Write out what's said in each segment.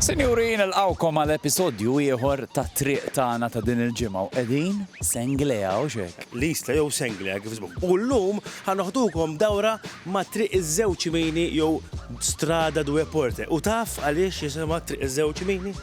Sinjuri, nilqgħukom għal episodju ieħor tat-Triq Tagħna ta' din il-ġimgħa u qegħdin Senglea, hux hekk? L-Isla jew Senglea kif ismu. U llum ħa noħdukom dawra ma' Triq iż-Żewġ Mini jew Strada Due Porte. U taf għaliex jisimha Triq iż-Żewġ Mini?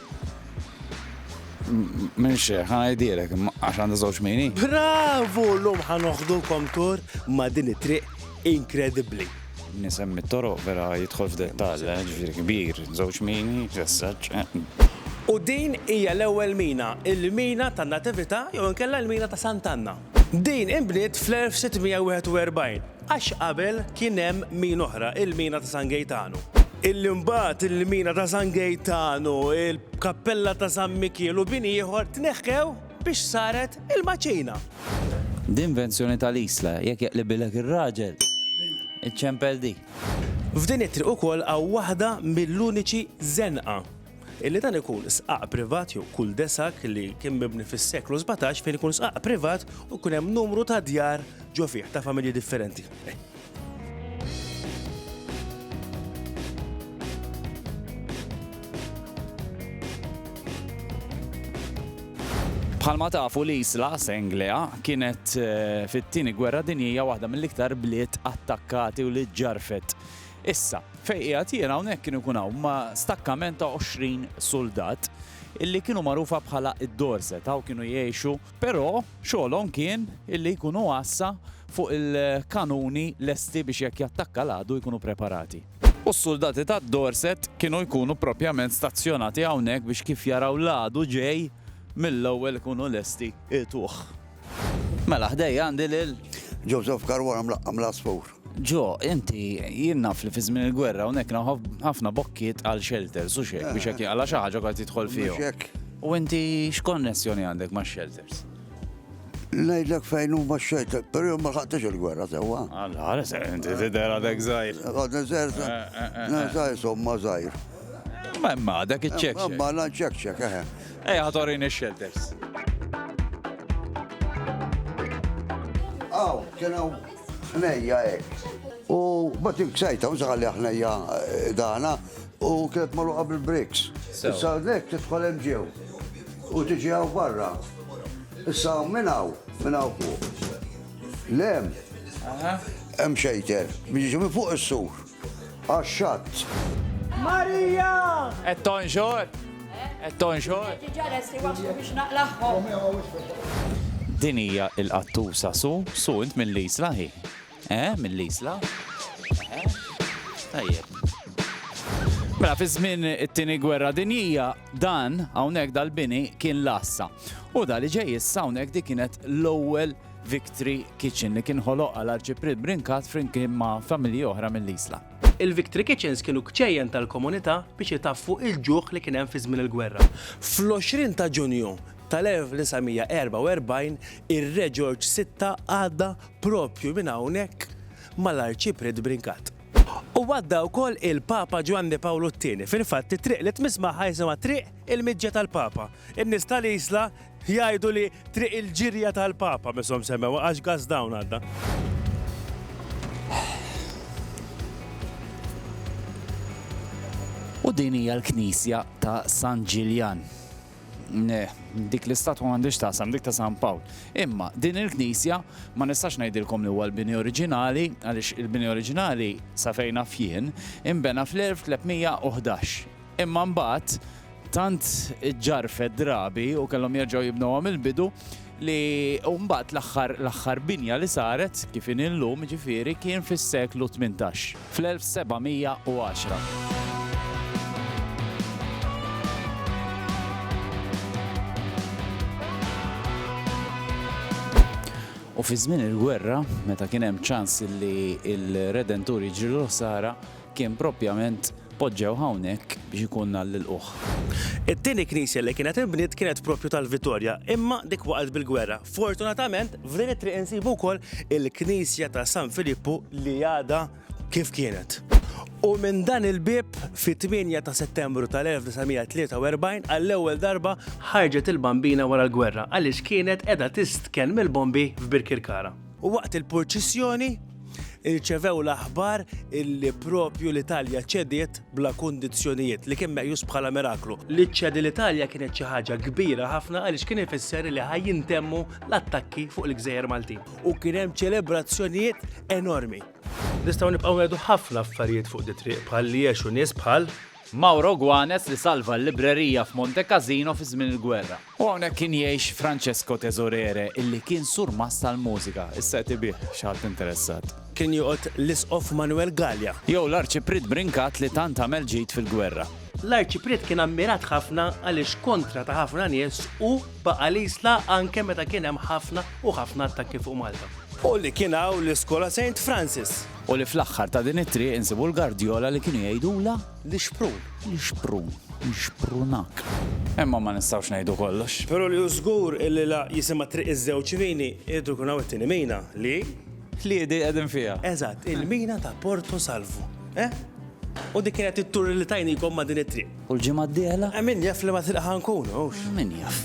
M'iniex xejn, ħa ngħidilek, għax għandha żewġ mini. Bravu! Llum ħa noħdukom tour ma' din it-triq inkredibbli. Nisemmi t-toroq vera jidħol f'dettall, ġifieri kbir, żewġ mini, ġessaġġ, eħ. U din hija l-ewwel mina, il-mina tan-Natività jew inkella l-mina ta' Sant'Anna. Din inbniet fl-1641, għax qabel kien hemm mina oħra, il-mina ta' San Gejtanu. Illi mbagħad il-mina ta' San Gejtanu, il-kappella ta' San Mikiel u bini ieħor tneħħew. Biex saret il-maċina. D'invenzjoni ta' l-isla, jekk jaqlibilek ir-raġel, iċċempel di. F'din it-triq ukoll hawn waħda mill-uniċi żenqa illi dan ikun sqaq privat jew kull desak li kien mibni fis-seklu 17 fejn ikun sqaq privat u jkun hemm numru ta' djar ġo fih ta' familji differenti. Bħalma tafu l-isla Senglea kienet eh, fit-tieni gwerra dinjija waħda mill-iktar bliet attakkati u li ġarfet. Issa, fej qiegħed jiena hawnhekk kienu kun hawn ma' stakkament ta' 20 soldat illi kienu magħrufa bħala id-Dorset, hawn kienu jgħixu Però xogħolhom kien illi jkunu għassa fuq il-kanuni lesti biex jekk jattakka l-għadu jkunu preparati. U s-suldati tad-Dorset kienu jkunu propjament stazzjonati hawnhekk biex kif jaraw l-għadu ġej, mill-ewwel ikunu lesti jgħituh. Mela ħdejja għandi lil. Joseph Caruana Mlaqqa' mill-Għasfur. Ġo, inti jien naf li fi żmien il-gwerra hawnhekk naħof ħafna bokkiet għal shelters u xek biex hekk għala xi ħaġa kont tidħol fihom. U inti x'konnessjoni għandek ma' shelters? Ngħidlek fejn huma x-shelter, però ma ħaqtix il-gwerra sewwa. Alla, għala se inti tidher għadek żgħir. Għadna żgħir, żgħir somma żgħir. Ma imma dak iċ-ċek. Ma la ċek ċek, eħe. Ej, ħatorin ix-shelters. Aw, kien hawn Ħnejja hekk. U bat il-ksajta, u saħalli ħnejja eh, dana, u kienet maluqa bil-briks. Issa nek tidħol hemm ġew. U tiġi għaw barra. Issa minnaw, minnaw fuq. Lem, hemm xejter, biex fuq is-sur. għax-xatt. Marija! Qed tonxor? Qed tonxor? Diġà lesti waslu biex naqlagħhom. Din hija l-qattusa su, su int mill-Isla hi. Eh, mill-Isla? Eh, tajjeb. Mela fi żmien it-tieni gwerra dinjija dan hawnhekk dal-bini kien lassa. U da li ġej issa hawnhekk di kienet l-ewwel Victory Kitchen li kien ħoloq għal Arċipriet Brincat flimkien ma' familji oħra mill-Isla. Il-Victory Kitchens kienu kċejjen tal-komunità biex itaffu il-ġuħ li kien hemm fi żmien il-gwerra. Fl-20 ta' Ġunju tal-1944 ir-Re Ġorġ Sitta għadda proprju minn hawnhekk mal-Arċipriet Brincat. U għadda wkoll il-Papa Ġwanni Pawlu t-Tieni. Fil-fatt it-triq li tmiss magħha jisimha Triq il-Miġja tal-Papa. In-nies tal-Isla Jgħidu li Triq il-Ġirja tal-Papa mishom semmewha għax gas dawn għadda. U din hija l-Knisja ta' San Ġiljan. Dik l-istatwa m'għandix taqsam dik ta' San Pawl. Imma din il-Knisja ma nistax ngħidilkom li huwa l-bini oriġinali għaliex il-bini oriġinali sa fejna fien imbena fl-1311. Imma mbagħad Tant ġġarfet drabi u kellhom jerġgħu jibnuha mill-bidu li u mbagħad l-aħħar l-aħħar binja li saret kif inhi llum jiġifieri kien fis-seklu tmintax, fl-1710. U fi żmien il-gwerra, meta kien hemm ċans li l-Redentur jiġrilu l-ħsara, Kien proprjament poġġew hawnhekk biex ikun nhar l-ilqugħ. It-tieni knisja li kienet inbniet kienet proprju tal-Vittoria, imma dik waqgħet bil-gwerra. Fortunatament, f'din it-triq insibu wkoll il-knisja ta' San Filippu li għadha kif kienet. U minn dan il-bieb, fit-tmienja ta' Settembru tal-1943, għall-ewwel darba, ħarġet il-Bambina wara l-gwerra għaliex kienet qiegħda tistkenn mill-bombi f'Birkirkara. U waqt il-purċissjoni, irċevew l-aħbar illi propju l-Italja ċediet bla kundizzjonijiet, li kien meqjus bħala miraklu. Li ċċedi l-Italja kienet xi ħaġa kbira ħafna għaliex kien ifisser li ħaj jintemmu l-attakki fuq il-gżejjer Maltin. U kien hemm ċelebrazzjonijiet enormi. Nistgħu nibqgħu ngħidu ħafna affarijiet fuq di triq bħal li għexu nies bħal Mauro Guanes li salva l-librerija f'Monte Cassino fi żmien il-gwerra. U hawnhekk kien jgħix Francesco Tesorere illi kien surmast tal-mużika, issa qed ibigħ, xi ħadd interessat. Kien joqgħod l-Isqof Manuel Galea. Jew l-Arċipriet Brincat li tant għamel ġid fil-gwerra. L-Arċipriet kien ammirat ħafna għaliex kontra ta' ħafna nies hu baqa' l-Isla anke meta kien hemm ħafna u ħafna attakki fuq Malta. U li kien hawn l-Iskola Saint Francis. U li fl-aħħar ta' din it-triq insibu l-gardjola li kienu jgħidulha. L-ixprun. L-ixprun. Nixprunak. Imma ma nistgħux ngħidu kollox. Però li hu żgur illi la jisimha Triq iż-Żewġ Mini, irid ikun hawn it-tieni mina li. Ħliedi qegħdin fiha. Eżatt, il-mina ta' Porto Salvu. Eh? U dik kienet it-tour li tajnikom ma' din it-triq. U l-ġimgħa d-dieħla? Eh, min jaf liema triq ħa nkunu, hux? Min jaf.